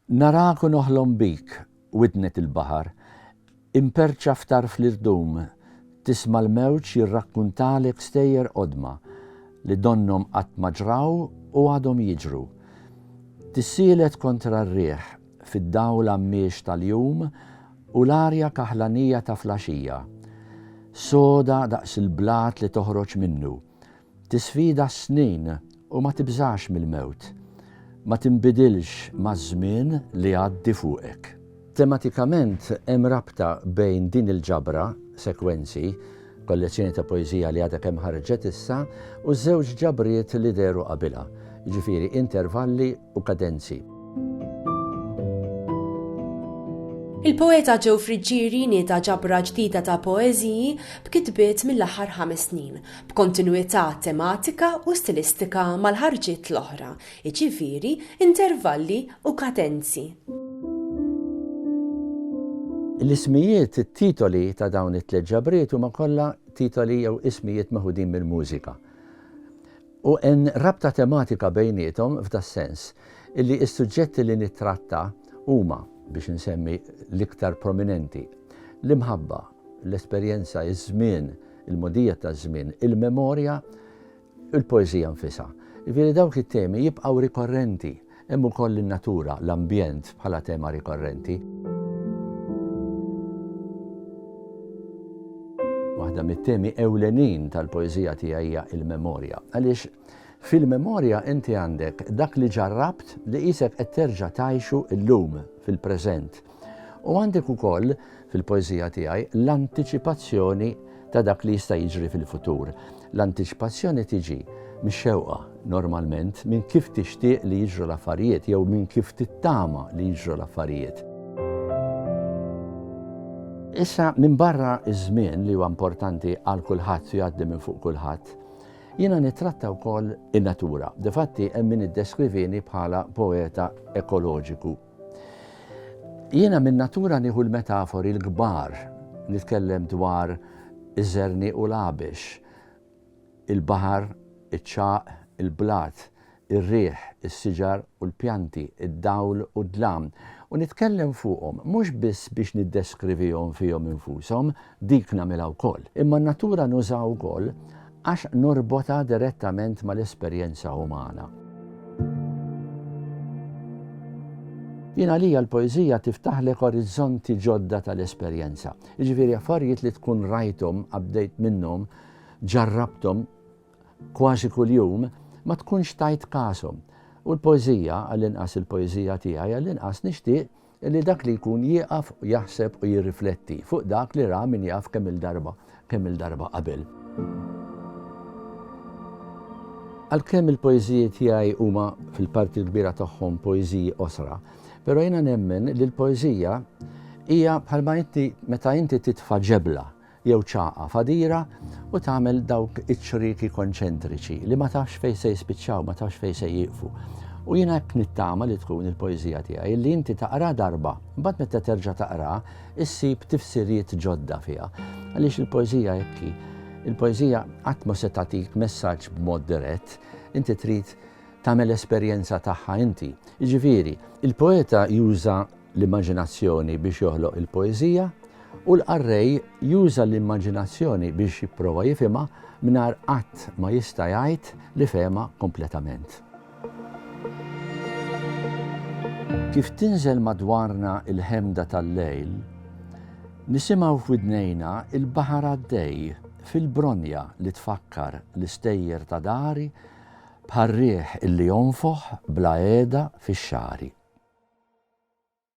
Narak u noħlom bik, widnek il-baħar, imperċa f'tarf l-irdum, tisma' l-mewġ jirrakkuntalek stejjer qodma li donnhom qatt ma ġraw u għadhom jiġru. Tissielet kontra r-riħ fid-dawl għammiex tal-jum u l-arja kaħlanija ta' flaxija, soda daqs il-blat li toħroġ minnu, Tisfida s-snin u ma tibżax mill-mewt. Ma tinbidilx maż-żmien li jgħaddi fuqek. Tematikament hemm rabta bejn din il-ġabra, Sekwenzi, kollezzjoni ta' poeżija li għadha kemm ħarġet issa, u ż-żewġ ġabriet li dehru qabilha, jiġifieri Intervalli u kadenzi. Il-poeta Joe Friggieri nieda ġabra ġdida ta' poeżiji b'kitbiet mill-aħħar ħames snin, b'kontinwità tematika u stilistika mal-ħarġiet l-oħra, jiġifieri intervalli u kadenzi. L-ismijiet, it-titoli ta' dawn it-tliet ġabriet huma kollha titoli jew ismijiet meħudin mill-mużika. U hemm rabta tematika bejniethom f'das-sens, illi s-suġġetti li nittratta huma, biex insemmi l-iktar prominenti, l-imħabba, l-esperjenza, iż-żmien, il-mogħdija taż-żmien, il-memorja, u l-poeżija nfisha. Jiġifieri dawk it-temi jibqgħu rikorrenti. Hemm ukoll in-natura, l-ambjent bħala tema rikorrenti. Waħda mit-temi ewlenin tal-poeżija tiegħi hija l-memorja. Għaliex fil-memorja inti għandek dak li ġarrabt li qisek qed terġa' tgħixu llum fil-preżent. U għandek ukoll fil-poeżija tiegħi l-antiċipazzjoni ta' dak li jista' jiġri fil-futur. L-antiċipazzjoni tiġi mix-xewqa normalment minn kif tixtieq li jiġru l-affarijiet jew minn kif tittama li jiġru l-affarijiet. Issa minn barra iż-żmien li huwa importanti għal kulħadd u jgħaddi minn fuq kulħadd, jiena nittratta wkoll in-natura. Difatti hemm min iddeskrivini bħala poeta ekoloġiku. Jiena minn natura nieħu l-metafori l-kbar, nitkellem dwar iż-żerniq u l-għabex, il-baħar, iċ-ċagħaq, il-blat, ir-riħ, is-siġar u l-pjanti, id-dawl u d-dlam, u nitkellem fuqhom mhux biss biex niddeskrivihom fihom infushom, dik nagħmilha wkoll, imma n-natura nużaha wkoll Għax norbotha direttament mal-esperjenza umana. Jien għalija l-poeżija tiftaħlek orizzonti ġodda tal-esperjenza. Jiġifieri affarijiet li tkun rajthom, għaddejt minnhom, ġarrabthom kważi kuljum, ma tkunx tajt kashom. U l-poeżija, għall-inqas il-poeżija tiegħi, għall-inqas nixtieq li dak li jkun jieqaf u jaħseb u jirrifletti fuq dak li ra min jaf kemm-il darba, kemm-il darba qabel. Għalkemm il-poeżiji tiegħi huma fil-parti l-kbira tagħhom poeżiji qosra, però jiena nemmen li l-poeżija hija bħalma inti meta inti titfa' ġebla, jew ċagħqa fadira u tagħmel dawk iċ-ċrieki konċentriċi li ma tafx fejn se jispiċċaw, ma tafx fejn se jieqfu. U jiena hekk nittama li tkun il-poeżija tiegħi li inti taqra darba, mbagħad meta terġa' taqra, issib tifsirijiet ġodda fiha. Għaliex il-poeżija hekk Il-poeżija qatt ma se tagħtik messaġġ b'mod dirett, inti trid tagħmel esperjenza tagħha inti. Jiġifieri, il-poeta juża l-immaġinazzjoni biex joħloq il-poeżija u l-qarrej juża l-immaġinazzjoni biex jipprova jifhimha mingħajr qatt ma jista' jgħid li fehemha kompletament. Kif tinżel madwarna il-ħemda tal-lejl, nisimaw f'widnejna il-baħar għaddej fil-bronja li tfakkar l-istejjer ta' dari Bħar-riħ illi jonfoħ bla heda fix-xagħri.